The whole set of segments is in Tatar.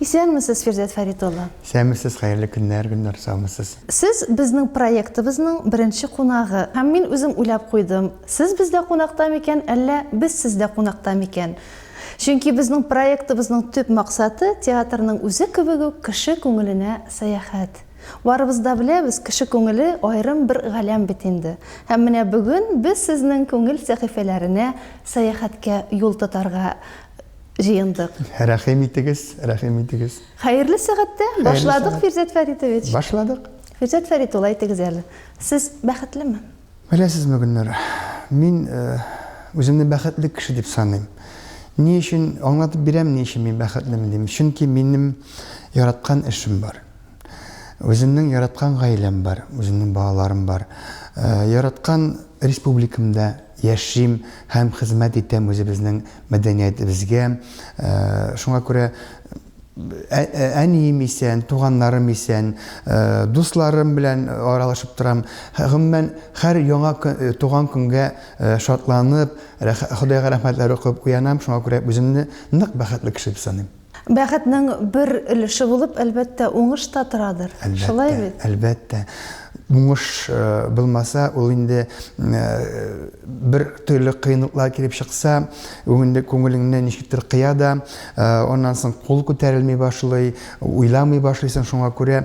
Исәнмесез, Фирдәүс Фәрит улы! Исәнмесез, хәерле көннәр, Гөлнар, саумысыз? Сез безнең проектыбызның беренче кунагы. Һәм мин үзем уйлап куйдым, сез бездә кунакта микән, әллә без сездә кунакта микән? Чөнки безнең проектыбызның төп максаты, театрның үзе кебек үк, кеше күңеленә сәяхәт. Барыбыз да беләбез, кеше күңеле аерым бер галәм бит инде. Һәм менә бүген без сезнең күңел сәхифәләренә сәяхәткә юл тотарга җыендык. Рәхим итегез, рәхим итегез. Хәерле сәгатьтә башладык, Фирзәт Фәритович. Башладык. Фирзәт Фәрит ул, әйтегез әле, сез бәхетлеме? Беләсезме, Гөлнара, мин үземне бәхетле кеше дип саныйм. Ни өчен аңлатып бирәм, ни өчен мин бәхетлемен дим. Чөнки минем яраткан эшем бар. Үземнең яраткан гаиләм бар, үземнең балаларым бар. Яраткан республикамда Яшим һәм хезмәт итәм үзебезнең мәдәниятебезгә. Шуңа күрә әнием исән, туганнарым исән, дусларым белән аралашып торам. Гомумән, һәр яңа туган көнгә шатланып, Ходайга рәхмәтләр укып уянам. Шуңа күрә үземне нык бәхетле кеше дип саныйм. Бәхетнең бер өлеше булып, әлбәттә, уңыш та торадыр. Әлбәттә, Шулай бит? Әлбәттә. Уңыш э, булмаса, ул инде э, бер төрле кыенлыклар килеп чыкса, инде күңелеңне ничектер кыя да, э, аннан соң кул күтәрелми башлый, уйламый башлыйсың. Шуңа күрә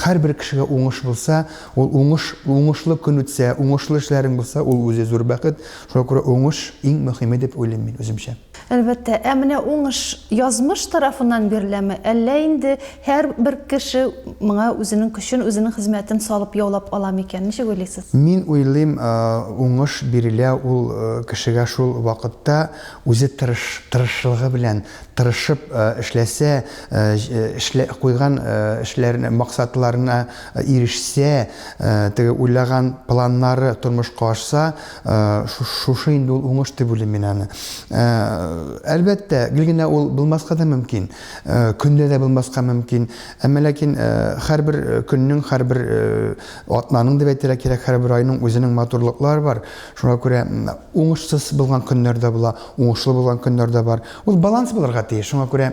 һәрбер кешегә уңыш булса, ул уңыш, уңышлы көн үтсә, уңышлы эшләрең булса, ул үзе зур бәхет. Шуңа күрә уңыш иң мөһиме дип уйлыйм мин үземчә. Әлбәттә. Ә менә уңыш язмыш тарафыннан биреләме, әллә инде һәрбер кеше моңа үзенең көчен, үзенең хезмәтен салып яулап ала микән? Ничек уйлыйсыз? Мин уйлыйм, уңыш бирелә ул кешегә шул вакытта, үзе тырыш, тырышлыгы белән, тырышып эшләсә, эшләп куйган эшләренә, максатларына ирешсә, теге уйлаган планнары тормышка ашса, Э, шушы инде ул уңыш дип уйлыйм мин аны э, әлбәттә гел генә ул булмаска да мөмкин э, көндә дә булмаска мөмкин әмма ләкин һәрбер көннең һәрбер атнаның дип әйтергә кирәк һәрбер айның үзенең матурлыклары бар шуңа күрә уңышсыз булган көннәр дә була уңышлы булган көннәр дә бар ул баланс булырга тиеш шуңа күрә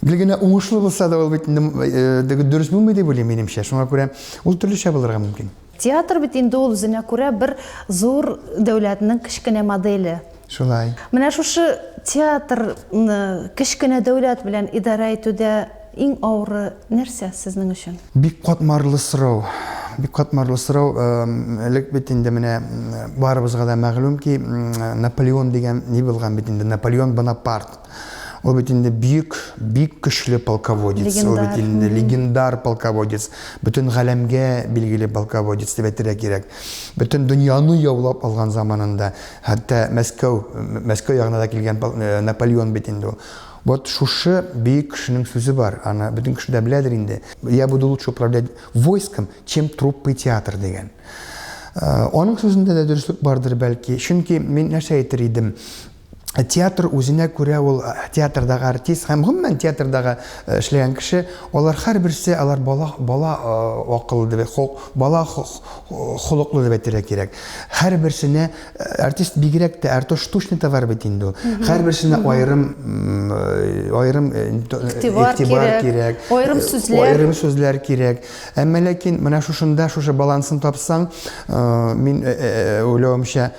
гел генә уңышлы булса да ул бит дөрес булмый дип уйлыйм минемчә шуңа күрә ул төрлечә булырга мөмкин Театр бит инде ул үзенә күрә бер зур дәүләтнең кечкенә моделе. Шулай. Менә шушы театрны кечкенә дәүләт белән идарә итүдә иң авыры нәрсә сезнең өчен? Бик катмарлы сорау. Бик катмарлы сорау. Элек бит инде менә барыбызга да мәгълүм ки, Наполеон дигән ни булган бит инде, Наполеон Бонапарт. Ул бит инде бик, бик көчле полководец. Легендар. Ул бит инде легендар полководец. Бөтен галәмгә билгеле полководец дип әйтергә кирәк. Бөтен дөньяны яулап алган заманында, хәтта Мәскәү, Мәскәү ягына да килгән э, Наполеон бит инде ул. Вот шушы бөек кешенең сүзе бар, аны бөтен кеше дә беләдер инде. Я буду лучше управлять войском, чем труппой театр дигән. Э, аның сүзендә дә дөреслек бардыр бәлки. Чөнки мин нәрсә әйтер идем? театр үзенә күрә ул э, театрдагы артист һәм гомумән театрдагы э, эшләгән кеше алар һәрберсе алар бала бала э, акыллы дип бала холыклы дип әйтергә кирәк һәрберсенә артист бигрәк тә артуш тушный товар бит инде һәрберсенә аерым аерым игътибар кирәк аерым сүзләр аерым сүзләр кирәк әмма ләкин менә шушында шушы балансын тапсаң мин уйлавымча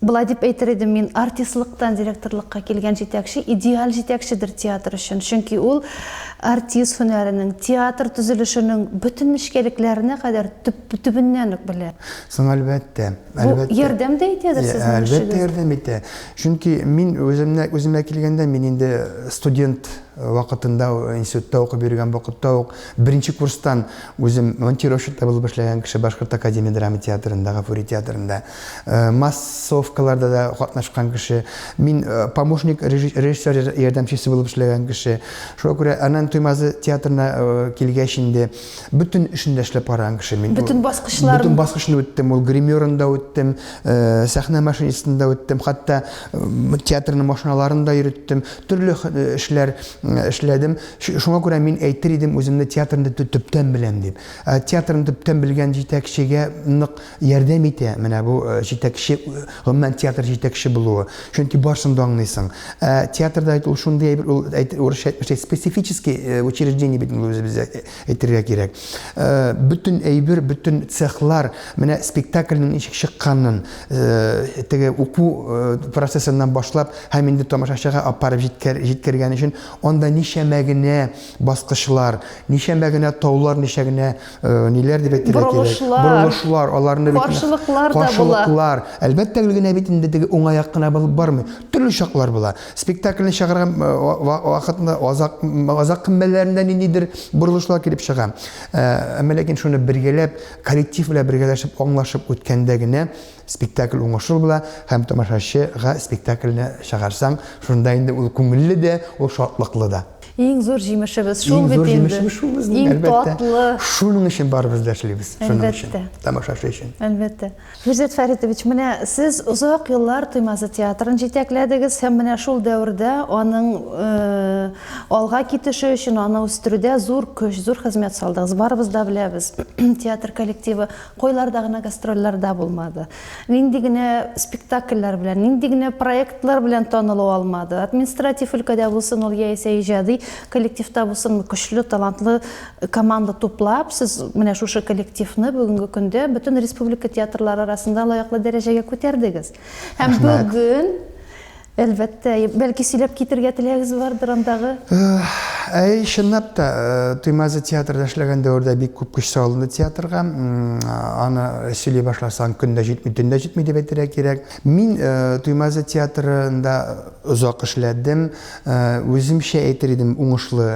Болай дип әйтер идем мин, артистлыктан директорлыкка килгән җитәкче идеаль җитәкчедер театр өчен, чөнки ул артист һөнәренең, театр төзелешенең бөтен нечкәлекләренә кадәр төп-төбеннән үк белә. Соң, әлбәттә, әлбәттә. Бу ярдәм дә итәдер сезнең эшегезгә? Әлбәттә, ярдәм итә. Чөнки мин үземне, үземә килгәндә, мин инде студент вакытында, институтта укып йөргән вакытта ук, беренче курстан үзем монтировщик та булып эшләгән кеше Башкорт академия драма театрында, Гафури театрында. Э, массовкаларда да катнашкан кеше мин э, помощник режиссер ярдәмчесе булып эшләгән кеше шуңа күрә анан туймазы театрына э, килгәч инде бөтен эшен дә эшләп караган кеше мин бөтен баскычлар бөтен баскычны үттем ул гримерын да үттем сәхнә машинисын да үттем хәтта театрның машиналарын да йөреттем төрле эшләр эшләдем шуңа күрә мин әйтер идем үземне театрны төптән беләм дип театрны төптән белгән җитәкчегә нык Ярдәм итә менә бу җитәкче, гомумән, театр җитәкче булуы. Чөнки барсын да аңлыйсың. Ә театрда бит ул шундый әйбер, ул әйтер, урысча әйтмешли, специфический учреждение бит ул үзебездә әйтергә кирәк. Бөтен әйбер, бөтен цехлар, менә спектакльнең ничек чыкканын, теге уку процессыннан башлап һәм инде тамашачыга апарып җиткәр, җиткергән өчен анда ничәмә генә баскычлар, ничәмә генә таулар, ничә генә Э, ниләр дип әйтергә кирәк борылышлар аларны бит каршылыклар да каршылыклар әлбәттә генә бит инде теге уңай як кына булып бармый төрле чаклар була спектакльне чыгарган э, вакытны азак азак кымбәләрендә ниндидер борылышлар килеп чыга э, әмма ләкин шуны бергәләп коллектив белән бергәләшеп аңлашып үткәндә генә спектакль уңышлы була һәм тамашачыга спектакльне чыгарсаң шунда инде ул күңелле дә ул шатлыклы да Иң зур җимешебез шул бит инде. Иң зур җимешебез шул безнең, Иң татлы. Шуның өчен барыбыз да эшлибез. Шуның өчен. Тамашачы өчен. Әлбәттә. Фирзәт Фәритович, менә сез озак еллар Туймазы театрын җитәкләдегез һәм менә шул дәвердә аның алга китеше өчен, аны үстерүдә зур көч, зур хезмәт салдыгыз. Барыбыз да беләбез, театр коллективы кайларда гына гастрольләрдә булмады. Нинди генә спектакльләр белән, нинди генә проектлар белән танылу алмады. Административ өлкәдә булсын ул яисә иҗади коллективта булсын, көчле, талантлы команда туплап, сез менә шушы коллективны бүгенге көндә бөтен республика театрлары арасында лаеклы дәрәҗәгә күтәрдегез. Һәм бүген Әлбәттә, бәлки сөйләп китергә теләгез бардыр андагы? Әй, чынлап та, Туймазы театрда эшләгән дәвердә бик күп көч салынды театрга. Аны сөйли башласаң, көн дә җитми, төн дә җитми дип әйтергә кирәк. Мин Туймазы театрында озак эшләдем. Үземчә әйтер идем, уңышлы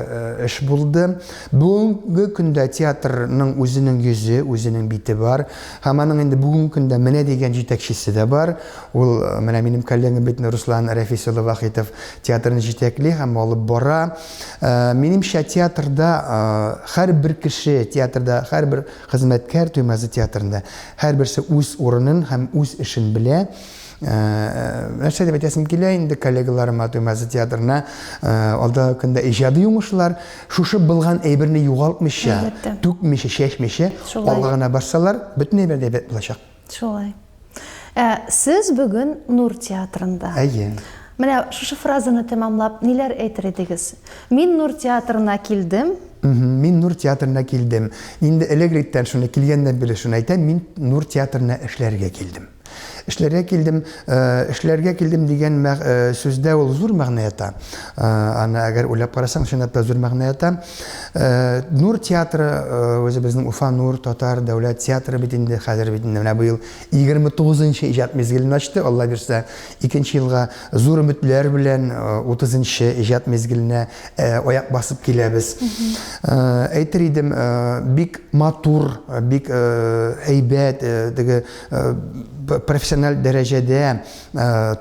эш булды. Бүгенге көндә театрның үзенең йөзе, үзенең бите бар. Һәм аның инде бүгенге көндә менә дигән җитәкчесе дә бар. Ул, менә минем коллегам бит, Руслан Рәфис улы Вахитов театрны җитәкли һәм алып бара. Минемчә, театрда һәрбер кеше, театрда һәрбер хезмәткәр, Туймазы театрында һәрберсе үз урынын һәм үз эшен белә. нәрсә дип әйтәсем килә инде коллегаларыма Туймазы театрына алда көндә иҗади уңышлар шушы булган әйберне югалтмыйча түкмичә чәчмичә алга гына барсалар бөтен әйбер дә әйбәт булачак шулай ә, сез бүген нур театрында әйе менә шушы фразаны тәмамлап ниләр әйтер идегез мин нур театрына килдем мин нур театрына килдем инде элегриттән шуны килгәннән бирле шуны әйтәм мин нур театрына эшләргә килдем Эшләргә килдем, эшләргә килдем дигән сүздә ул зур мәгънә ята. Аны әгәр уйлап карасаң, чынлап та зур мәгънә ята. Нур театры, үзебезнең Уфа Нур татар дәүләт театры бит инде, хәзер бит инде менә быел 29 нчы иҗат мизгелен ачты, Алла бирсә, икенче елга зур өметләр белән 30 нчы иҗат мизгеленә аяк басып киләбез. Әйтер идем, бик матур, бик әйбәт, теге профессиональ дәрәҗәдә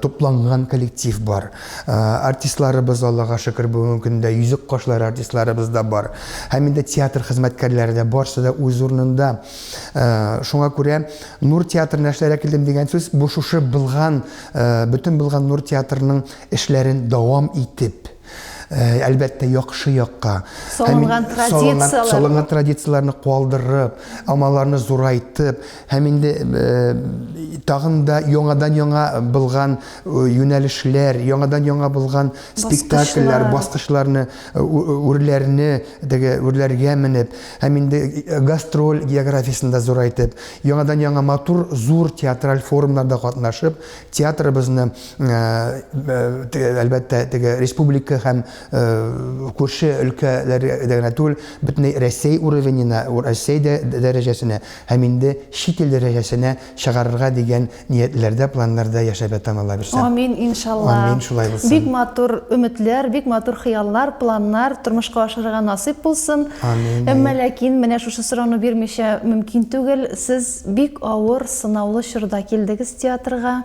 тупланган коллектив бар. Артистларыбыз, Аллага шөкер, бүгенге көндә йөзек кашлары артистларыбыз да бар. Һәм инде театр хезмәткәрләре дә барсы да үз урынында. Шуңа күрә Нур театрына эшләргә килдем дигән сүз, бу шушы булган, бөтен булган Нур театрының эшләрен дәвам итеп, Э, әлбәттә яхшы якка салынган традицияләр салынган традицияләрне калдырып амаларны зурайтып һәм инде э, тагын да яңадан яңа булган э, юнәлешләр яңадан яңа булган спектакльләр баскычларны үрләрне теге үрләргә менеп һәм инде гастроль географиясен дә зурайтып яңадан яңа матур зур театраль форумнарда катнашып Театрыбызны, әлбәттә, теге республика һәм күрше өлкәләргә генә түгел, бөтенләй Рәсәй уровенена, Рәсәй дәрәҗәсенә һәм инде чит ил дәрәҗәсенә чыгарырга дигән ниятләрдә, планнарда яшәп ятам, Алла бирсә. Амин, иншалла. Амин, шулай булсын. Бик матур өметләр, бик матур хыяллар, планнар тормышка ашырырга насыйп булсын. Амин. Әмма ләкин менә шушы сорауны бирмичә мөмкин түгел. Сез Бик авыр, сынаулы чорда килдегез театрга.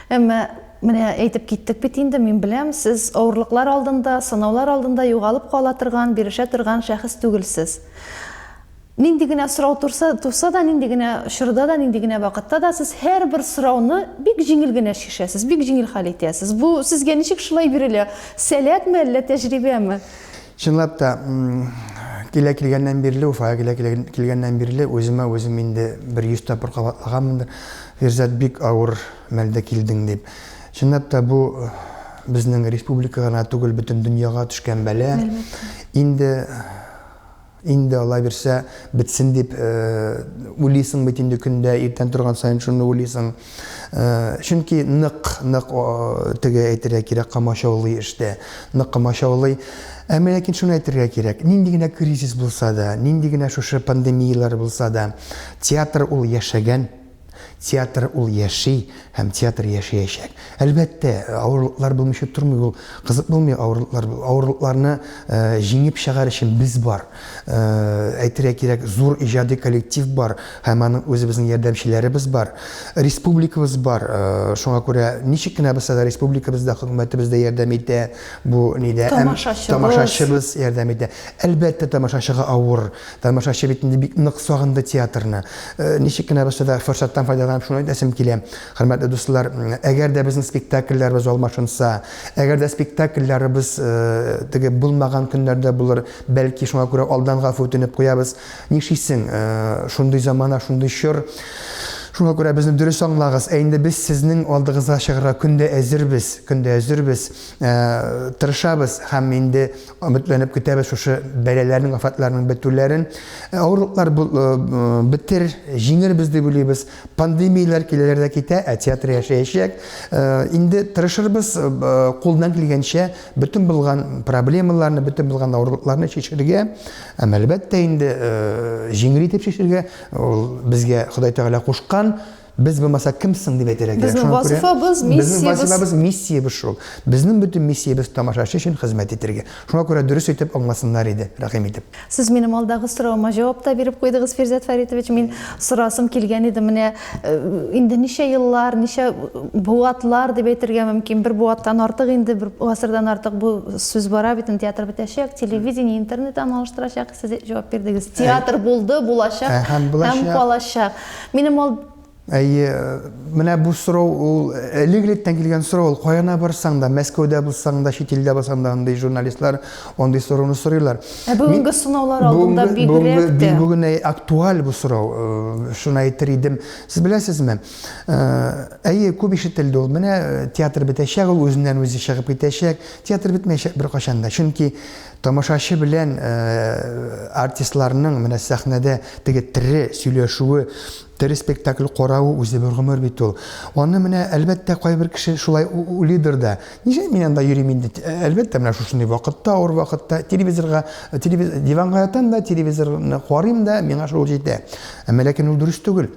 Әмма менә әйтеп киттек бит инде, мин беләм, сез авырлыклар алдында, сынаулар алдында югалып кала торган, бирешә торган шәхес түгелсез. Нинди генә сорау турса, туса да, нинди генә чорда да, нинди генә вакытта да сез һәрбер сорауны бик җиңел генә чишәсез, бик җиңел хәл итәсез. Бу сезгә ничек шулай бирелә? Сәләтме, әллә тәҗрибәме? Чынлап та, килә килгәннән бирле, Уфага килә килгәннән бирле үземә үзем инде бер йөз тапкыр кабатлаганмындыр. Фирзат, бик авыр мәлдә килдең, дип. Чынлап та, бу безнең республика гына түгел, бөтен дөньяга төшкән бәла. Инде инде алай бирсә бетсен дип уйлыйсың бит инде көндә иртән торган саен шуны уйлыйсың. Чөнки нык, нык теге әйтергә кирәк, камачаулый эштә, нык камачаулый. Әмма ләкин шуны әйтергә кирәк, нинди генә кризис булса да, нинди генә шушы пандемияләр булса да, театр ул яшәгән, театр ул яши һәм театр яшәячәк. Әлбәттә, авырлыклар булмыйча тормый ул, кызык булмый авырлыклар. Авырлыкларны җиңеп чыгар өчен без бар. әйтергә кирәк, зур иҗади коллектив бар һәм аның үзебезнең ярдәмчеләребез бар. Республикабыз бар. Шуңа күрә ничек кенә булса да республикабыз да, хөкүмәтебез дә ярдәм итә. Бу нидә тамашачыбыз, тамашачыбыз ярдәм итә. Әлбәттә, тамашачыга авыр. Тамашачы бит инде бик нык сагынды театрны. Ничек кенә булса да форсаттан файдаланып шуны әйтәсем килә. Хөрмәтле дуслар, әгәр дә безнең спектакльләребез алмашынса, әгәр дә спектакльләребез теге булмаган көннәрдә булыр, Бәлки, шуңа күрә алдан гафу үтенеп куябыз. Нишлисең, шундый замана, шундый чор. Шуңа күрә безне дөрес аңлагыз. Ә инде без сезнең алдыгызга чыгарга көндә әзербез, көндә әзербез, э, тырышабыз һәм инде өметләнеп көтәбез шушы бәлаләрнең, афатларның бетүләрен. Э, авырлыклар э, бетер, җиңербез дип уйлыйбыз. Пандемияләр киләләр дә китә, ә театр яшәячәк. Инде тырышырбыз кулдан килгәнчә Бөтен булган проблемаларны, бөтен булган авырлыкларны чишергә, әм әлбәттә инде җиңел итеп чишергә, ул безгә Ходай Тәгалә кушкан, без булмаса кем соң дип әйтергә кирәк. Безнең вазифабыз, миссиябез. Безнең вазифабыз, миссиябез шул. Безнең бөтен миссиябез тамашачы өчен хезмәт итәргә. Шуңа күрә дөрес итеп аңласыннар иде, рәхим итеп. Сез минем алдагы сорауыма җавап та биреп куйдыгыз, Фирзәт Фәритович. Мин сорасым килгән иде, менә э, инде ничә еллар, ничә буатлар дип әйтергә мөмкин. Бер буаттан артык инде, бер гасырдан артык бу сүз бара бит, театр бетәчәк, телевидение, интернет аны алыштырачак. Сез җавап бирдегез. Театр булды, булачак һәм калачак. Минем алд Әйе, менә бу сорау ул элек-электән килгән сорау, ул каяна барсаң да, Мәскәүдә булсаң да, чит илдә булсаң да, андый журналистлар андый сорауны сорыйлар. Ә бүгенге сынаулар алдында бигрәк тә. Бүген актуаль бу сорау, э, шуны әйтер идем. Сез беләсезме? Э, әйе, күп ишетелде ул. Менә э, театр бетәчәк, ул үзеннән үзе чыгып китәчәк. Театр бетмәячәк беркайчан да. Чөнки тамашачы белән артистларның менә сәхнәдә теге тере сөйләшүе Тере спектакль каравы үзе бер гомер бит ул. Аны менә, әлбәттә, кайбер кеше шулай уйлыйдыр да. Ничек мин анда йөрим инде? Әлбәттә, менә шушындый вакытта, авыр вакытта телевизорга, телевиз, диванга ятам да, телевизорны карыйм да, миңа шул җитә. Әмма ләкин ул дөрес түгел.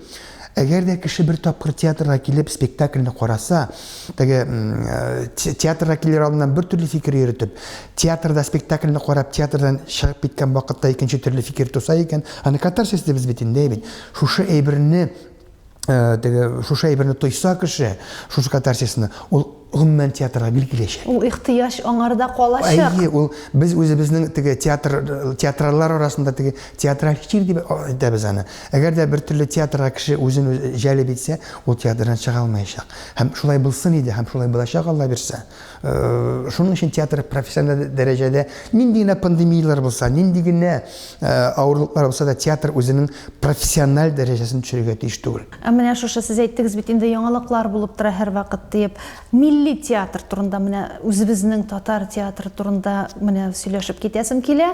Әгәр дә кеше бер тапкыр театрга килеп спектакльне караса, теге э, театрга килер алдыннан бер төрле фикер йөртеп, театрда спектакльне карап, театрдан чыгып киткән вакытта икенче төрле фикер туса икән, аны катарсис дибез бит инде, бит. Шушы әйберне, теге, шушы әйберне тойса кеше, шушы катарсисны, ул гомумән театрга бил киләчәк. Ул ихтыяҗ аңарда калачак. Әйе, ул без үзебезнең теге театр театрлар арасында теге театраль чир дип әйтәбез аны. Әгәр дә бер төрле театрга кеше үзен җәлеп итсә, ул театрдан чыга алмаячак. Һәм шулай булсын иде, һәм шулай булачак Алла бирсә. Шуның өчен театр профессиональ дәрәҗәдә нинди генә пандемияләр булса, нинди генә авырлыклар булса да, театр үзенең профессиональ дәрәҗәсен төшерергә тиеш түгел. Ә менә шушы, сез әйттегез бит инде, яңалыклар булып тора һәрвакыт диеп. Милли театр турында, менә үзебезнең татар театры турында менә сөйләшеп китәсем килә.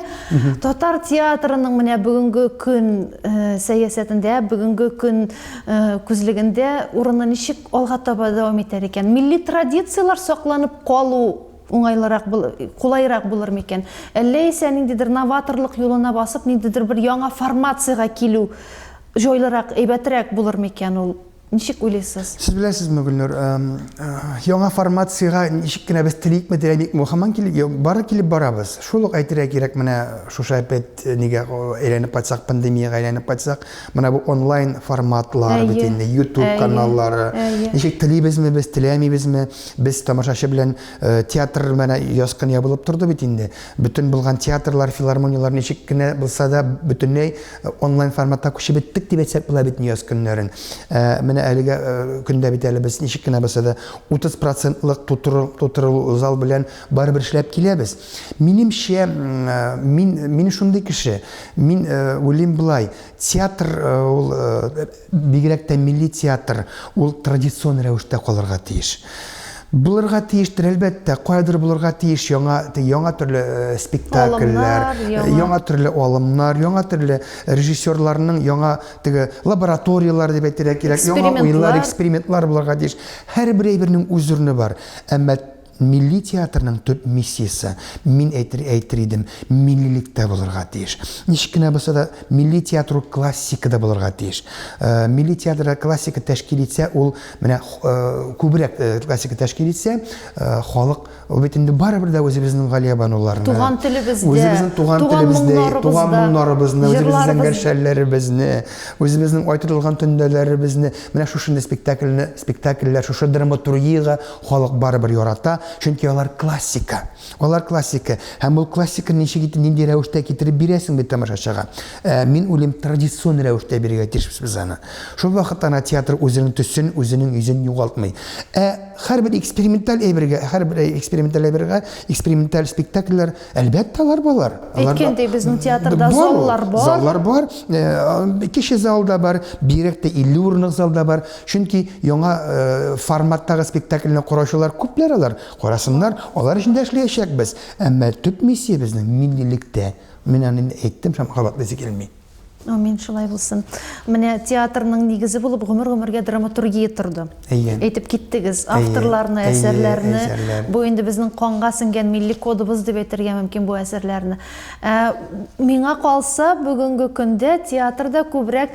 Татар театрының менә бүгенге көн сәясәтендә, бүгенге көн күзлегендә урыны ничек? Алга таба дәвам итәр икән, милли традицияләр сакланып калу уңайлырак, кулайрак булыр микән? Әллә исә ниндидер новаторлык юлына басып, ниндидер бер яңа формациягә килү җайлырак, әйбәтрәк булыр микән ул? Ничек уйлыйсыз? Сез беләсезме, Гөлнур, яңа формациягә ничек кенә без теликме, теләмикме, хаман килеп, бары килеп барабыз. Шул ук әйтергә кирәк, менә шушы опять нигә әйләнеп кайтсак, пандемиягә әйләнеп кайтсак, Менә бу онлайн форматлар бит инде, YouTube каналлары. Ничек телибезме без, теләмибезме, без тамашачы белән э, театр менә яскын ябылып торды бит инде. Бөтен булган театрлар, филармонияләр ничек кенә булса да бөтенләй э, онлайн форматка күчеп беттек дип әйтсәк була бит яз көннәрен. Э, менә әлегә көндә бит әле без ничек кенә булса да 30 процентлык тутыру, тутыру зал белән Барыбер эшләп киләбез. Минемчә, мин, мин шундый кеше. Мин уйлыйм болай, театр ул, бигрәк тә милли театр, ул традицион рәвештә калырга тиеш. Булырга тиештер, әлбәттә, каядыр булырга тиеш яңа, яңа төрле спектакльләр, яңа төрле алымнар, яңа төрле режиссерларның яңа теге лабораторияләр дип әйтергә кирәк, яңа уйлар, экспериментлар булырга тиеш. Һәрбер әйбернең үз урыны бар. Әмма Милли театрның төп миссиясе, мин әйтер әйтер идем, миллилектә булырга тиеш. Ничек кенә булса да, милли театр ул классикада булырга тиеш. Милли театр классика тәшкил итсә, ул менә күбрәк классика тәшкил итсә, халык ул бит инде барыбер дә үзебезнең Галиябануларны, Туган телебездә, үзебезнең туган телебездә, туган моңнарыбызны, үзебезнең гәршәлләребезне, үзебезнең Ай тотылган төндәләребезне, менә шушындый спектакльне, спектакльләр, шушы драматургиягә Халык барыбер ярата, чөнки алар классика. Алар классика. Һәм ул классиканы ничек итеп, нинди рәвештә китереп бирәсең бит тамашачыга. Ә, мин уйлыйм, традицион рәвештә бирергә тиешбез без аны. Шул вакыт ана театр үзенең төсен, үзенең йөзен югалтмый. Ә һәрбер эксперименталь әйбергә, һәрбер эксперименталь әйбергә, эксперименталь спектакльләр, әлбәттә, алар балар. Әйткәндәй, безнең театрда заллар бар. Заллар бар. Кече зал да бар, бигрәк тә 50 урынлык зал да бар. Чөнки яңа форматтагы спектакльне караучылар күпләр алар, карасыннар, алар өчен дә эшләячәкбез. Әмма төп миссия безнең, миллилектә. Мин аны инде әйттем, һәм кабатлыйсы килми. Амин, шулай булсын. Менә театрның нигезе булып гомер-гомергә драматургия торды. Әйе. Әйтеп киттегез, авторларны, әйе, әсәрләрне. Әйе, әсәрләр. Бу инде безнең канга сеңгән милли кодыбыз дип әйтергә мөмкин бу әсәрләрне. Ә, миңа калса, бүгенге көндә театрда күбрәк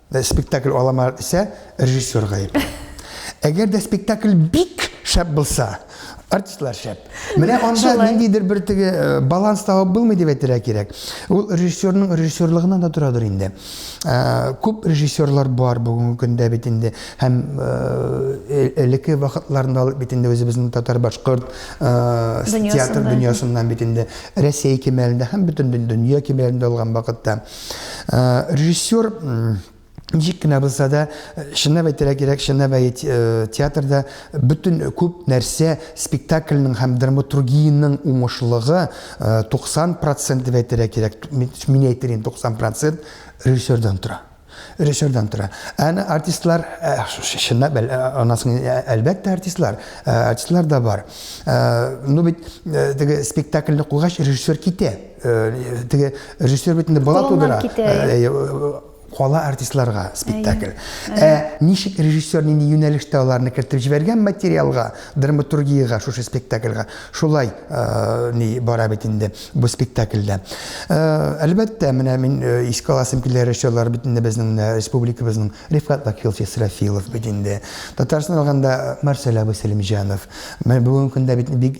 Спектакль аламар исә режиссер гаепле. Әгәр дә спектакль бик шәп булса, артистлар шәп. Менә анда ниндидер бер теге э, баланс табып булмый дип әйтергә кирәк. Ул режиссерның режиссерлыгыннан да торадыр инде. Э, күп режиссерлар бар бүгенге көндә бит инде һәм э, элекке вакытларында бит инде үзебезнең татар-башкорт театр дөньясыннан бит инде Россия кимәлендә һәм бөтен дөнья кимәлендә алган вакытта Режиссер ничек кенә булса да чынлап әйтергә кирәк чынлап әйт театрда бөтен күп нәрсә спектакльның һәм драматургиянең уңышлыгы 90 процент дип әйтергә кирәк мин әйтер инде 90 процент режиссердан тора режиссердан тора әнә артистлар чынлап анасын әлбәттә артистлар артистлар да бар ну бит теге спектакльне куйгач режиссер китә Теге режиссер бит инде бала тудыра. Кала артистларга спектакль. Ә ничек режиссер нинди юнәлештә аларны кертеп җибәргән материалга, драматургиягә, шушы спектакльга, шулай ни бара бит инде бу спектакльдә. Әлбәттә, менә мин искә аласым килә режиссерлар бит инде безнең менә республикабызның Рифкат Вакилович Исрафилов бит инде. Татарстан алганда Марсель абый Сәлимҗанов. Менә бүгенге көндә бит бик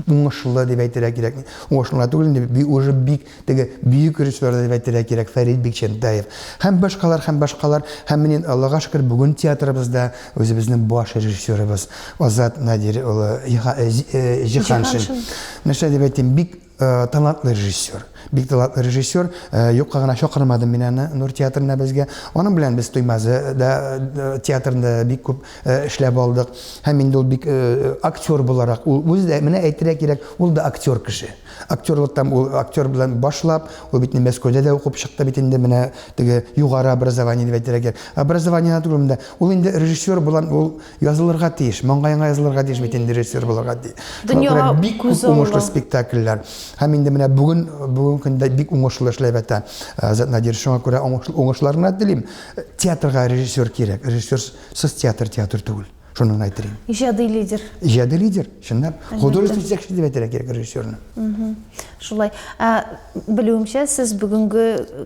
уңышлы дип әйтергә кирәк. Уңышлы гына түгел инде, би уже бик теге бөек режиссер дип әйтергә кирәк, Фәрит Бикчәнтәев. Һәм башкалар, һәм башкалар. Һәм менә инде, Аллага шөкер, бүген театрыбызда үзебезнең баш режиссерыбыз Азат Надир улы Җиһаншин. Нәрсә дип әйтим, бик талантлы режиссер. Бик талантлы режиссер. Юкка гына чакырмадым мин аны Нур театрына безгә. Аның белән без Туймазы да театрында бик күп Э, эшләп алдык. Һәм инде ул бик э, актер буларак, ул үзе дә менә әйтергә кирәк, ул да актер кеше. Актерлыктан ул актер белән башлап, ул бит Мәскәүдә дә укып чыкты бит инде менә теге югары образование дип әйтергә кирәк. Образование түгел монда. Ул инде режиссер булган, ул язылырга тиеш, маңгаеңа язылырга тиеш бит инде режиссер булырга тиеш. Дөньяга бик күп уңышлы спектакльләр. Һәм инде менә бүген бүген көндә бик уңышлы эшләп ята. Э, Азат Надир шуңа күрә уңышларына телим. Театрга режиссер кирәк. Режиссер Сез театр театр түгел. Шуны гына әйтер идем. Иҗади лидер. Иҗади лидер, чынлап. Художественный җитәкче дип әйтергә кирәк режиссерны. Шулай. Ә, белүемчә, сез бүгенге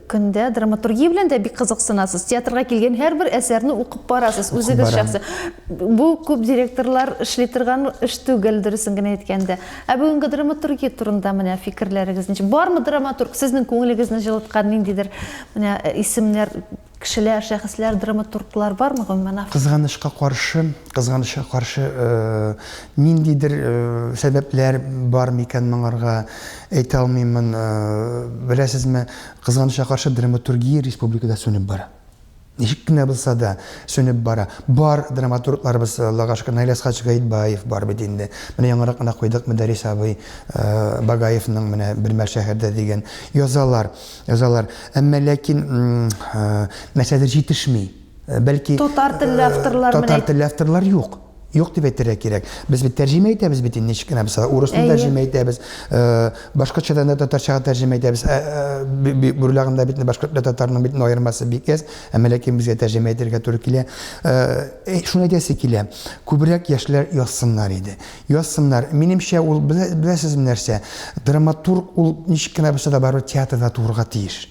көндә драматургия белән дә бик кызыксынасыз. Театрга килгән һәрбер әсәрне укып барасыз, үзегез шәхсе. Бу күп директорлар эшли торган эш түгел, дөресен генә әйткәндә. Ә бүгенге драматургия турында менә фикерләрегез ничек? Бармы драматург сезнең күңелегезне җылыткан ниндидер менә исемнәр Кешеләр, шәхесләр, драматурглар бармы, гомумән, автор? Кызганычка каршы, кызганычка каршы, ниндидер сәбәпләр бар микән моңарга, әйтә алмыймын. Беләсезме, кызганычка каршы, драматургия республикада сүнеп бара. Ничек кенә булса да сүнеп бара. Бар драматургларыбыз, Аллага шөкер, Наил Әсхач Гаетбаев бар бит инде. Менә яңарак кына куйдык Мөдәррис абый Багаевның менә Бер мәл шәһәрдә дигән. Язалар. Язалар, әмма ләкин мәсьәләдә җитешми. Бәлки татар телле авторлар менә татар телле авторлар юк. Юк дип әйтергә кирәк. Без бит тәрҗемә итәбез бит инде ничек кенә булса, урысны тәрҗемә итәбез, башкортчадан да татарчага тәрҗемә итәбез. Бурлагында бит башкорт белән татарның бит аермасы бик әз, әмма ләкин безгә тәрҗемә итәргә туры килә. Шуны әйтәсе килә, күбрәк яшьләр язсыннар иде. Язсыннар. Минемчә, ул, белә, беләсезме нәрсә, драматург ул ничек кенә булса да барыбер театрда туырга тиеш.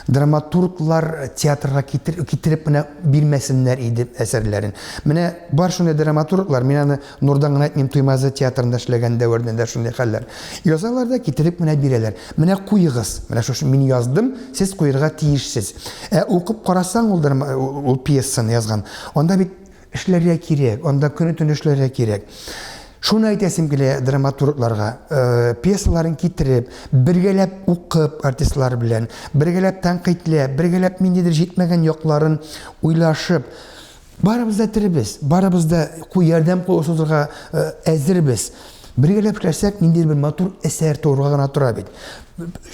Драматурглар театрга китер, китереп менә бирмәсеннәр иде әсәрләрен. Менә бар шундый драматурглар, мин аны Нурдан гына әйтмим, Туймазы театрында эшләгән дәвердә дә шундый хәлләр. Язалар да китереп менә бирәләр. Менә куегыз, менә шушы мин яздым, сез куерга тиешсез. Ә укып карасаң ул, ул пьесаны язган, анда бит Эшләргә кирәк, анда көне-төне эшләргә кирәк. Шуны әйтәсем килә драматургларга, э, пьесаларын китереп, бергәләп укып артистлар белән, бергәләп тәнкыйтьләп, бергәләп ниндидер җитмәгән якларын уйлашып, барыбыз да теребез, барыбыз да куй ярдәм кулы сузырга э, әзербез. Бергәләп эшләсәк, ниндидер бер матур әсәр тууырга гына тора бит.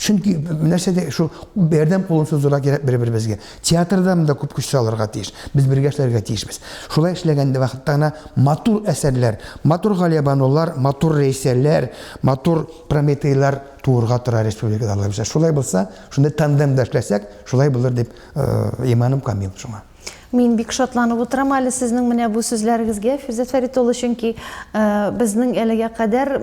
Чөнки нәрсә дә шул ярдәм кулын сузырга кирәк бер-беребезгә. Театрда монда күп көч салырга тиеш. Без бергә эшләргә тиешбез. Шулай эшләгән вакытта гына матур әсәрләр, матур Галиябанулар, матур Рәйсәләр, матур Прометейлар туырга тора республикада, Аллаһы бирсә. Шулай булса, шундый тандемда эшләсәк, шулай булыр дип иманым камил шуңа. Мин бик шатланып утырам әле сезнең менә бу сүзләрегезгә, Фирзәт Фәрит улы, чөнки безнең әлегә кадәр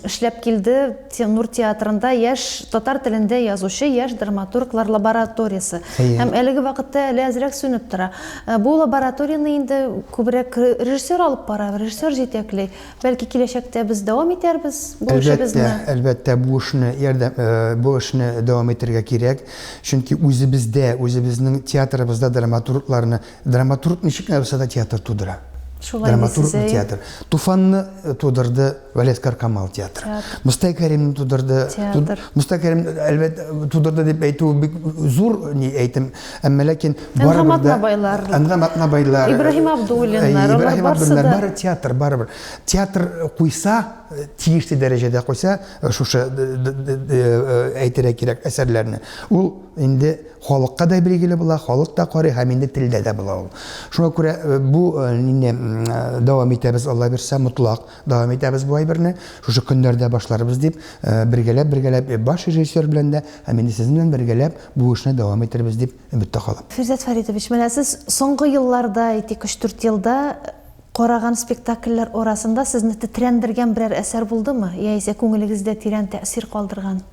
эшләп килде Теннур театрында яшь татар телендә язучы яшь драматурглар лабораториясе. Әйе. Һәм әлеге вакытта әле әзрәк сүнеп тора. Э, бу лабораторияне инде күбрәк режиссер алып бара, режиссер җитәкли. Бәлки киләчәктә без дәвам итәрбез бу эшебезне. Әлбәттә, әлбәттә бу эшне ярдәм э, бу эшне дәвам итәргә кирәк. Чөнки үзебездә, үзебезнең театрыбызда драматургларны Драматург ничек нәрсә дә театр тудыра. Шулай Драматург дисез, театр. Туфанны э, тудырды Валет Каркамал театры. Театр. Мустай Кәримне тудырды. Театр. Мустай Кәрим, әлбәт, тудырды дип әйтү бик зур ни әйтем. Әмма ләкин Әнгам Атнабайлар. Әнгам Атнабайлар. Ибраһим Абдуллиннар. Э, Ибраһим Абдуллиннар. Бары театр, барыбер. Театр куйса, э, тиешле дәрәҗәдә куйса, шушы әйтергә кирәк әсәрләрне. Ул инде Халыкка да билгеле була, халык та карый һәм инде телдә дә була ул. Шуңа күрә бу инде дәвам итәбез, Алла бирсә, мотлак дәвам итәбез бу әйберне. Шушы көннәрдә башларбыз дип, бергәләп, бергәләп баш режиссер белән дә һәм инде сезнең белән бергәләп бу эшне дәвам итәрбез дип өметтә калам. Фирдәс Фәритович, менә сез соңгы елларда, әйтик, өч-дүрт елда караган спектакльләр арасында сезне тетрәндергән берәр әсәр булдымы, яисә күңелегездә тирән тәэсир калдырган?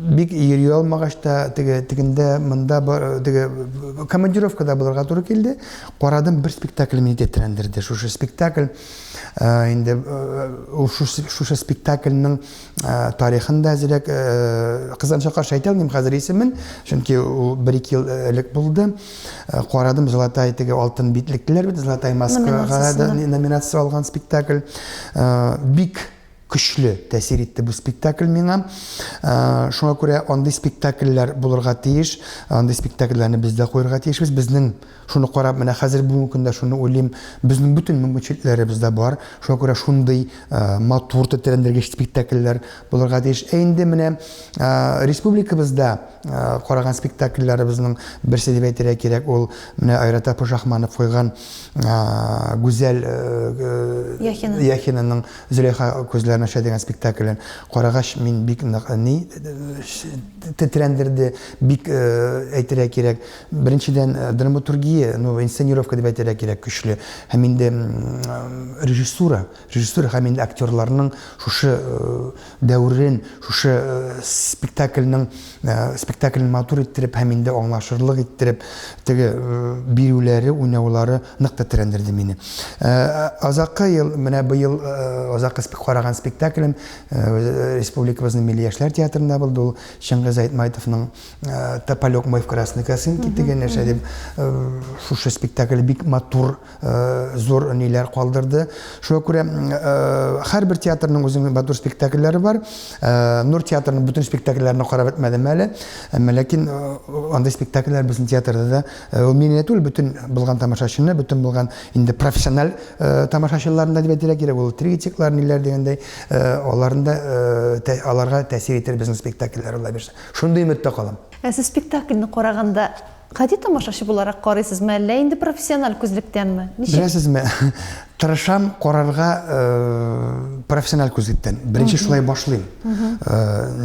Бик йөри алмагач та, теге тегендә, монда бар, теге командировкада булырга туры килде. Карадым, бер спектакль мине тетрәндерде. Шушы спектакль э, инде э, шушы спектакльның э, тарихын да әзрәк кызганычка каршы әйтә алмыйм хәзер исемен, чөнки ул 1-2 ел элек булды. Карадым Золотай теге алтын битлекләр бит, Золотай маскага номинация алган спектакль. Бик Көчле тәэсир итте бу спектакль миңа. Шуңа күрә андый спектакльләр булырга тиеш. Андый спектакльләрне без дә куярга тиешбез. Безнең шуны карап, менә хәзер бүгенге көндә шуны уйлыйм, безнең бөтен мөмкинчелекләребез дә бар. Шуңа күрә шундый матур, тетрәндергеч спектакльләр булырга тиеш. Ә инде менә республикабызда караган спектакльләребезнең берсе дип әйтергә кирәк, ул менә Айрат Апушахманов куйган Гүзәл Яхинаның Зөләйха күзләрен ача дигән спектаклен карагач, мин бик ни тетрәндерде, бик әйтергә кирәк. Беренчедән, драматургия, ну, инсценировка дип әйтергә кирәк, көчле. Һәм инде режиссура, режиссура һәм инде актерларның шушы Дәүрен шушы спектакльның спектакльне матур иттереп һәм инде аңлашырлык иттереп теге бирүләре, уйнаулары нык тетрәндерде мине. Азаккы ел, менә быел азаккы караган спектаклем республикабызның милли яшьләр театрында булды. Ул Чыңгыз Айтмайтовның Тополек мой в красный косынке дигән нәрсә дип шушы спектакль бик матур Э, зур ниләр калдырды. Шуңа күрә э, һәрбер театрның үзенең матур спектакльләре бар. Э, Нур театрының бөтен спектакльләрен карап бетмәдем әле. Әмма ләкин андый спектакльләр безнең театрда да ул мине түгел, бөтен булган тамашачыны, бөтен булган инде профессиональ тамашачыларны дип әйтергә кирәк. Ул тригетиклар ниләр дигәндәй, аларында аларга тәэсир итер безнең спектакльләр ул әйберсе. Шундый өметтә калам. Ә сез спектакльне караганда Гади тамашачы буларак карыйсызмы, әллә инде профессиональ күзлектәнме? Ничек? Беләсезме, тырышам карарга профессиональ күзлектән. Беренче шулай башлыйм.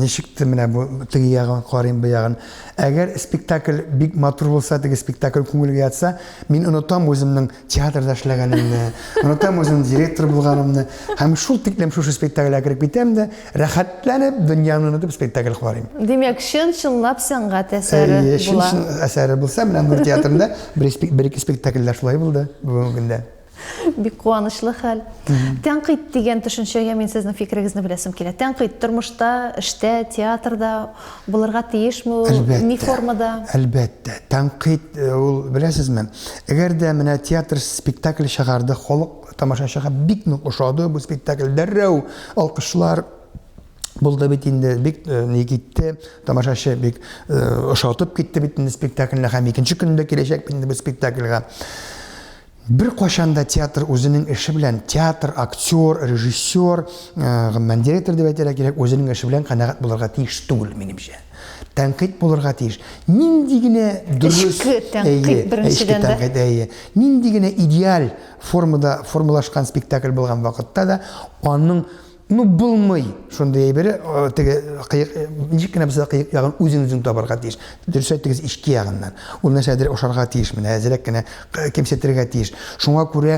Ничек те менә бу теге ягын карыйм, бу ягын. Әгәр спектакль бик матур булса, теге спектакль күңелгә ятса, мин онытам үземнең театрда эшләгәнемне, Ротам үзенең директор булганымны һәм шул тиклем шушы спектакльгә кереп китәм дә, рәхәтләнеп дөньяны онытып спектакль карыйм. Димәк, чын-чынлап сәнгать әсәре була. Әйе, чын-чын әсәре булса, менә Нур театрында бер-ике спектакльдә шулай булды бүгенге көндә. Бик куанычлы хәл. Тәнкыйть дигән төшенчәгә мин сезнең фикерегезне беләсем килә. Тәнкыйть тормышта, эштә, театрда Булырга тиешме ул? Ни формада? Әлбәттә. Тәнкыйть э, ул, беләсезме, әгәр дә менә театр спектакль чыгарды, халык тамашачыга бик нык ошады бу спектакль, дәррәү алкышлар булды бит инде, бик э, ни китте, тамашачы бик э, ошатып китте бит инде спектакльне һәм икенче көндә киләчәк бит инде бу спектакльгә. Беркайчан да театр үзенең эше белән, театр, актер, режиссер, гомумән, директор дип әйтергә кирәк, үзенең эше белән канәгать булырга тиеш түгел, минемчә. Тәнкыйть булырга тиеш. Нинди генә дөрес, эчке тәнкыйть беренчедән дә. Тәнкыйть, әйе. Нинди генә идеаль формада формалашкан спектакль булган вакытта да, аның Ну, булмый шундый әйбере, теге кыек, ничек кенә булса кыек ягын үзен үзен табарга тиеш. Дөрес әйтегез, ички ягыннан. Ул нәрсәдер ошарга тиеш, менә әзрәк кенә кемсетергә тиеш. Шуңа күрә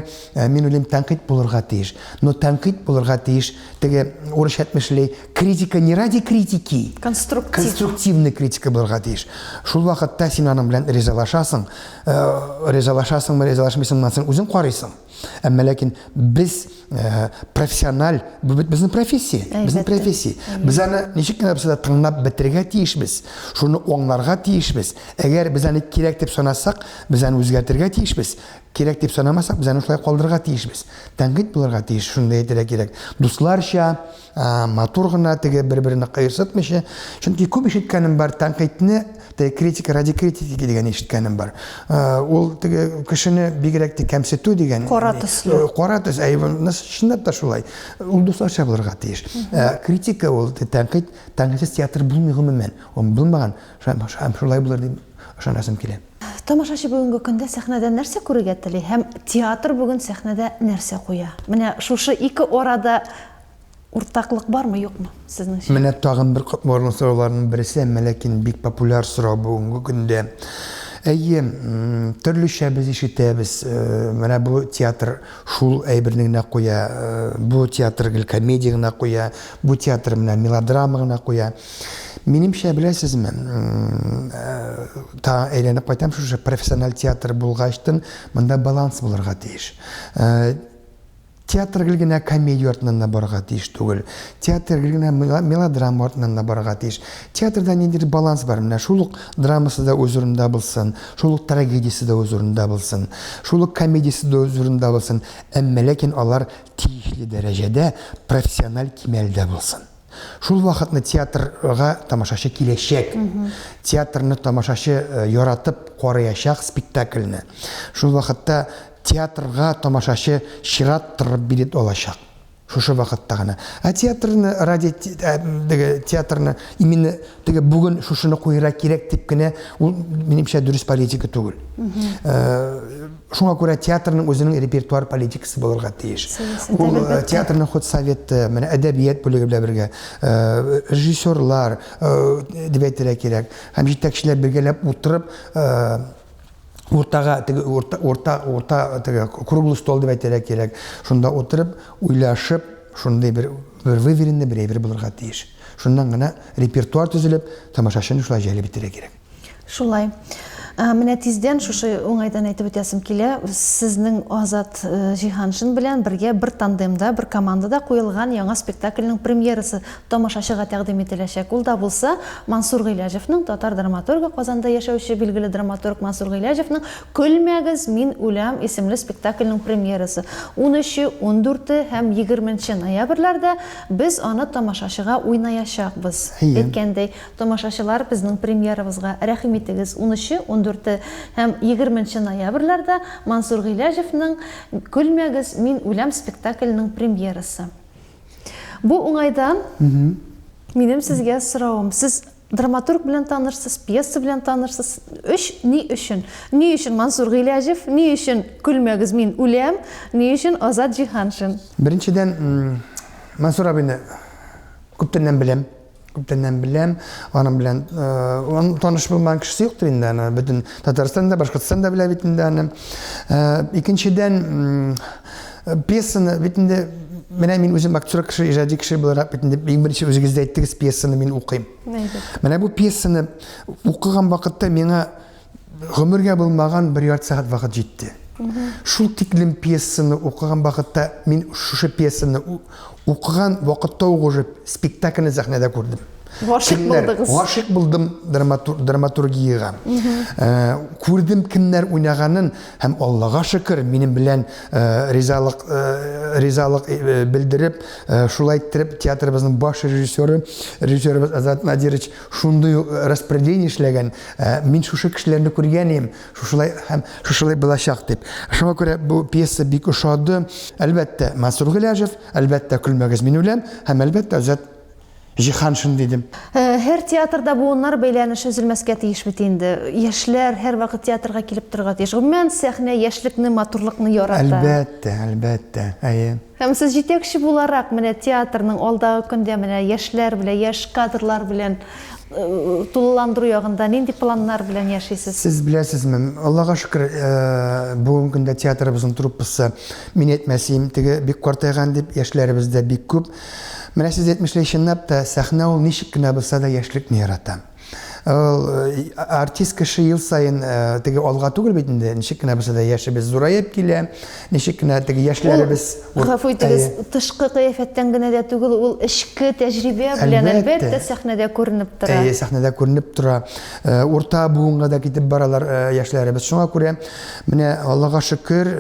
мин уйлыйм, тәнкыйть булырга тиеш. Но тәнкыйть булырга тиеш, теге урысча әйтмешли, критика не ради критики. Конструктив. Конструктивный критика булырга тиеш. Шул вакытта син аның белән ризалашасың. Ризалашасыңмы, ризалашмыйсыңмы, үзең карыйсың. Әмма ләкин без э, профессиональ, бу бит безнең профессия, безнең профессия. Без аны ничек кенә булса да тыңлап бетерергә тиешбез. Шуны аңларга тиешбез. Әгәр без аны кирәк дип санасак, без аны үзгәртергә тиешбез. Кирәк дип санамасак, без аны шулай калдырырга тиешбез. Тәнкыйть булырга тиеш, шуны әйтергә кирәк. Дусларча матур гына теге бер берне кыерсытмыйча чөнки күп ишеткәнем бар тәнкыйтьне теге критика ради критики дигән ишеткәнем бар ул теге кешене бигрәк тә кәмсетү дигән кара төсле э, кара төс әй чынлап та шулай ул дусларча булырга тиеш э, критика ул тәнкыйть тәнкыйтьсез театр булмый гомумән ул булмаган һәм шулай булыр дип ышанасым килә тамашачы бүгенге көндә сәхнәдә нәрсә күрергә тели һәм театр бүген сәхнәдә нәрсә куя менә шушы ике арада Уртаклык бармы, юкмы, сезнеңчә? Менә тагын бер катмарлы сорауларның берсе, әмма ләкин бик популяр сорау бүгенге көндә. Әйе, төрлечә без ишетәбез. Менә бу театр шул әйберне генә куя, бу театр гел комедия генә куя, бу театр менә мелодрама гына куя. Минемчә, беләсезме, та әйләнеп кайтам шушы профессиональ театр булгачтын, монда баланс булырга тиеш. Театр гел генә комедия артыннан да барырга тиеш түгел. Театр гел генә мелодрама артыннан да барырга тиеш. Театрда ниндидер баланс бар. Менә шул ук драмасы да үз урынында булсын, шул ук трагедиясе дә үз урынында булсын, шул ук комедиясе дә үз урынында булсын, әмма ләкин алар тиешле дәрәҗәдә, профессиональ кимәлдә булсын. Шул вакытны театрга тамашачы киләчәк. Театрны тамашачы э, яратып карыячак спектакльне. Шул вакытта театрга тамашачы чират торып билет алачак шушы вакытта гына. Ә театрны, ради э, театрны именно Теге бүген шушыны куйырга кирәк дип кенә ул минемчә дөрес политика түгел. Э, шуңа күрә театрның үзенең репертуар политикасы булырга тиеш. Ул э, театрның ход советы, менә әдәбият бүлеге белән бергә, э, режиссерлар дип әйтергә кирәк. Һәм җитәкчеләр бергәләп утырып уртага теге урта урта урта теге круглый стол дип әйтергә кирәк. Шунда утырып, уйлашып, шундый бер бер выверенный бер әйбер булырга тиеш. Шуннан гына репертуар төзелеп, тамашачыны шулай җәлеп итәргә кирәк. Шулай. Ә, Менә тиздән шушы уңайдан әйтеп үтәсем килә. Сезнең Азат э, Җиһаншин белән бергә бер тандемда, бер командада куелган яңа спектакльнең премьерасы тамашачыга тәкъдим ителәчәк. Ул да булса Мансур Гыйләҗевның, татар драматургы, Казанда яшәүче билгеле драматург Мансур Гыйләҗевның Көлмәгез, мин үләм исемле спектакльнең премьерасы. 13-14 һәм 20 ноябрьләрдә Без аны тамашачыга уйнаячакбыз. Әйткәндәй, тамашачылар безнең премьерабызга рәхим итегез, унөче, ундүрте һәм егерменче ноябрьләрдә Мансур Гыйләҗевның Көлмәгез, мин үләм спектакленең премьерасы. Бу уңайдан минем сезгә соравым, сез Драматург белән танырсыз, пьеса белән танырсыз. Өч ни өчен? Ни өчен Мансур Гыйләҗев? Ни өчен Көлмәгез, мин үләм? Ни өчен Азат Җиһаншин? Беренчедән, Мансур абыйны күптәннән беләм. Күптәннән беләм. Аның белән он таныш булмаган кешесе юктыр инде аны. Бөтен Татарстан да, Башкортстан да белә бит инде аны. Икенчедән, Пьесаны бит инде менә мин үзем актер кеше, иҗади кеше буларак бит инде иң беренче үзегез дә әйттегез, пьесаны мин укыйм. Менә бу пьесаны укыган вакытта миңа гомергә булмаган бер ярты сәгать вакыт җитте. Шул тиклем пьесаны укыган вакытта мин шушы пьесаны Укыган вакытта ук уже спектакльне сәхнәдә күрдем. Гашык булдыгыз. Гашык булдым драматургиягә. Э, күрдем кемнәр уйнаганын һәм Аллага шөкер, минем белән э, ризалык э, ризалык белдереп, шулай иттереп театрыбызның баш режиссеры, режиссерыбыз Азат Надирович шундый распределение эшләгән. Мин шушы кешеләрне күргән идем, Шушылай һәм шушылай булачак дип. Шуңа күрә бу пьеса бик ошады. Әлбәттә, Мансур Гыляжев, әлбәттә, Көлмәгез мин үләм һәм әлбәттә, Азат Җиһаншин дидем. Һәр театрда буыннар бәйләнеше өзелмәскә тиеш бит инде. Яшьләр һәрвакыт театрга килеп торырга тиеш. Гомумән, сәхнә яшьлекне, матурлыкны ярата. Әлбәттә, әлбәттә. Әйе. Һәм сез җитәкче буларак менә театрның алдагы көндә менә яшьләр белән, яшь кадрлар белән тулыландыру ягында нинди планнар белән яшисез? Сез беләсезме, Аллага шөкер, бүгенге көндә театрыбызның труппасы, мин әйтмәсем, теге бик картайган дип, яшьләребез дә бик күп. Менә сез әйтмешли, чынлап та, сәхнә ул ничек кенә булса да яшьлекне ярата. Э, артист кеше ел сайын э, теге алга түгел бит инде ничек кенә булса да яшебез зураеп килә ничек кенә теге яшьләребез гафу итегез тышкы кыяфәттән генә дә түгел ул эчке тәҗрибә белән әлбәттә сәхнәдә күренеп тора әйе сәхнәдә күренеп тора э, урта буынга да китеп баралар яшьләребез шуңа күрә менә аллага шөкер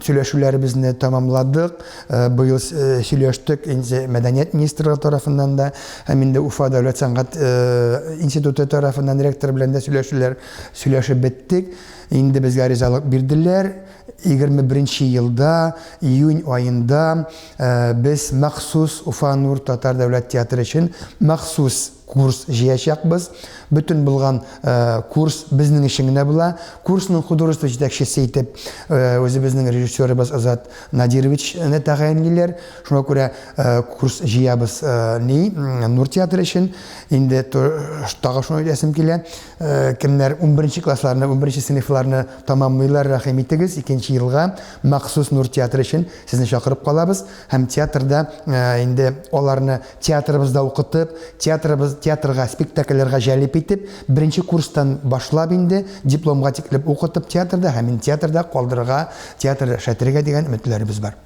сөйләшүләребезне тәмамладык Э, быел э, сөйләштек инде мәдәният министрлыгы тарафыннан да һәм инде уфа дәүләт сәнгать э, институты тарафыннан ректор белән дә сөйләшүләр сөйләшеп беттек инде безгә ризалык бирделәр 21 елда июнь аенда без махсус уфа нур татар дәүләт театры өчен махсус Курс җыячакбыз. Бөтен булган курс безнең өчен генә була. Курсның художество җитәкчесе итеп үзебезнең режиссерыбыз Азат Надировичны тәгаенлиләр. Шуңа күрә курс җыябыз ни Нур театры өчен. Инде тагы шуны әйтәсем килә, кемнәр унберенче классларны, унберенче сыйныфларны тәмамлыйлар, рәхим итегез, икенче елга махсус Нур театры өчен сезне чакырып калабыз һәм театрда инде аларны Театрыбызда укытып, театрыбыз, театрга, спектакльләргә җәлеп итеп, беренче курстан башлап инде, дипломга тиклем укытып театрда һәм мине театрда калдырырга, театр эшләтергә дигән өметләребез бар.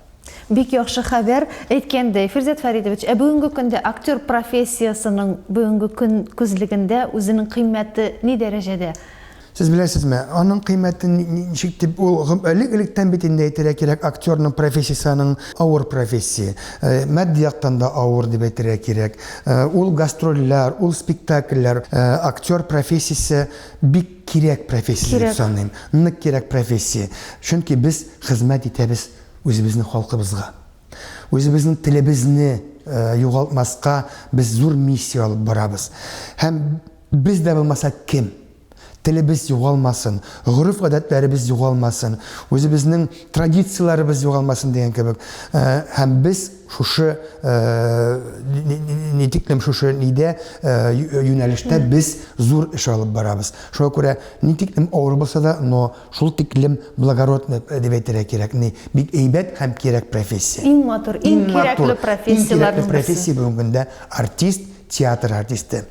Бик яхшы хәбәр. Әйткәндәй, Фирзәт Фәридович, ә бүгенге көндә актер профессиясенең бүгенге көн күзлегендә үзенең кыйммәте ни дәрәҗәдә? Сез беләсезме, аның кыйммәте ничек дип, ул элек-электән бит инде әйтергә кирәк, актерның профессиясе аның авыр профессия. Матди яктан да авыр дип әйтергә кирәк. Ул гастрольләр, ул спектакльләр, актер профессиясе бик кирәк профессия дип саныйм. Нык кирәк профессия. Чөнки без хезмәт итәбез үзебезнең халкыбызга. Үзебезнең телебезне югалтмаска без зур миссия алып барабыз. Һәм. Без дә булмаса кем? Телебез югалмасын, гореф-гадәтләребез югалмасын, үзебезнең традицияләребез югалмасын дигән кебек. Һәм без шушы ни тиклем шушы нидә юнәлештә без зур эш алып барабыз. Шуңа күрә ни тиклем авыр булса да, но шул тиклем благородный дип әйтергә кирәк. Ни, бик әйбәт һәм кирәк профессия. Иң матур, иң кирәкле профессияләрнең берсе. Иң кирәкле профессия бүгенге көндә артист, театр артисты.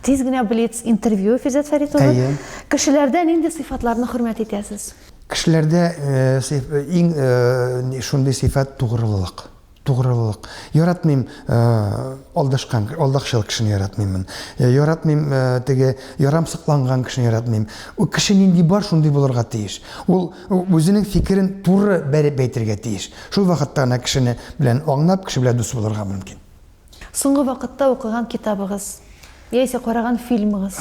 Тиз генә блиц интервью, Физет Фәрит улы. Әйе. Кешеләрдә нинди сыйфатларны хөрмәт итәсез? Кешеләрдә э, э, иң э, шундый сыйфат тугрылык. Тугрылык. Яратмыйм алдашкан, алдакчыл кешене яратмыймын. Яратмыйм теге ярамсыкланган кешене яратмыйм. Ул кеше нинди бар, шундый булырга тиеш. Ул үзенең фикерен туры бәреп әйтергә тиеш. Шул вакытта гына кешене белән аңлап, кеше белән дус булырга мөмкин. Соңгы вакытта укыган китабыгыз яисә караган фильмыгыз?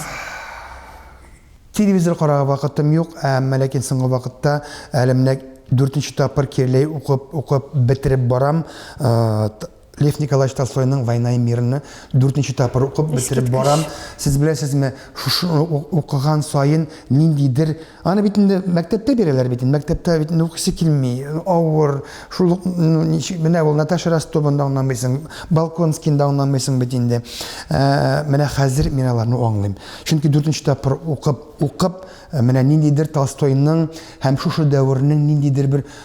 Телевизор карарга вакытым юк, әмма ләкин соңгы вакытта әле менә дүртенче тапкыр кирләй укып, укып бетереп барам. Лев Николаевич Толстойның «Война и мирны» дүртенче тапкыр укып бетереп барам. Сез беләсезме, шушы укыган саен ниндидер Аны бит инде мәктәптә бирәләр бит инде. Мәктәптә бит инде укысы килми, авыр. Шул ук ну, ничек менә ул Наташа Ростованы да аңламыйсың, Балконскийны да аңламыйсың бит инде. Ә, менә хәзер мин аларны аңлыйм. Чөнки дүртенче тапкыр укып, укып, менә ниндидер Толстойның һәм шушы дәвернең ниндидер бер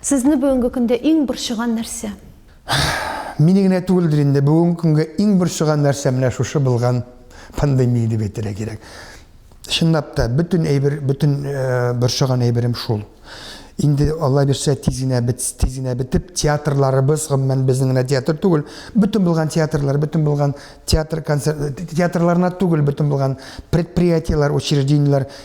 Сезне бүгенге көндә иң борчыган нәрсә? Мине генә түгелдер инде, бүгенге көнгә иң борчыган нәрсә менә шушы булган пандемия дип әйтергә кирәк. Чынлап та, бөтен әйбер, бөтен борчыган әйберем шул. Инде Алла бирсә тиз генә бит, тиз генә бетеп, театрларыбыз, гомумән безнең генә театр түгел, бөтен булган театрлар, бөтен булган театр концерт, театрларына түгел, бөтен булган предприятиеләр, учреждениеләр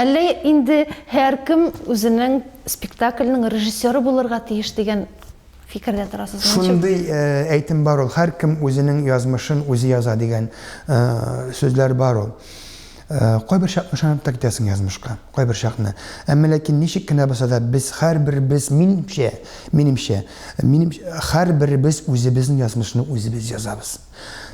Әллә инде һәркем үзенең спектакльнең режиссеры булырга тиеш дигән фикердә торасызмы? Шундый әйтем бар ул, һәркем үзенең язмышын үзе яза дигән сүзләр бар ул. Кайбер чакны ышанып та китәсең язмышка, кайбер чакны. Әмма ләкин ничек кенә булса да, без һәрберебез, минемчә, минемчә, минем һәрберебез үзебезнең язмышны үзебез язабыз.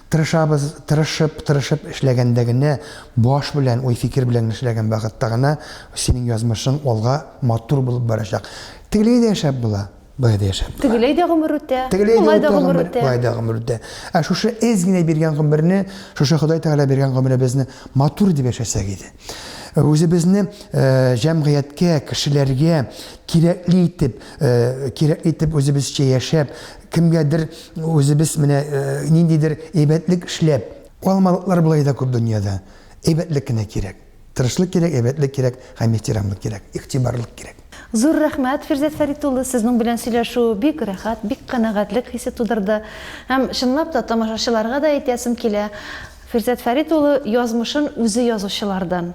Тырышабыз, тырышып, тырышып эшләгәндә генә, баш белән, уй-фикер белән эшләгән вакытта гына синең язмышың алга матур булып барачак. Тегеләй дә яшәп була, болай да яшәп була. Тегеләй дә гомер үтә, болай да гомер үтә. Болай да гомер үтә. Ә шушы эз генә биргән гомерне, шушы Ходай Тәгалә биргән гомеребезне матур итеп яшәсәк иде. Үзебезне җәмгыятькә, кешеләргә кирәкле итеп, кирәкле итеп үзебезчә яшәп, Кемгәдер үзебез менә ниндидер әйбәтлек эшләп, алмалыклар болай да күп дөньяда. Әйбәтлек кенә кирәк. Тырышлык кирәк, әйбәтлек кирәк һәм ихтирамлык кирәк, игътибарлык кирәк. Зур рәхмәт, Фирзәт Фәрит улы, сезнең белән сөйләшү бик рәхәт, бик канәгатьлек хисе тудырды. Һәм чынлап та тамашачыларга да әйтәсем килә, Фирзәт Фәрит улы язмышын үзе язучылардан.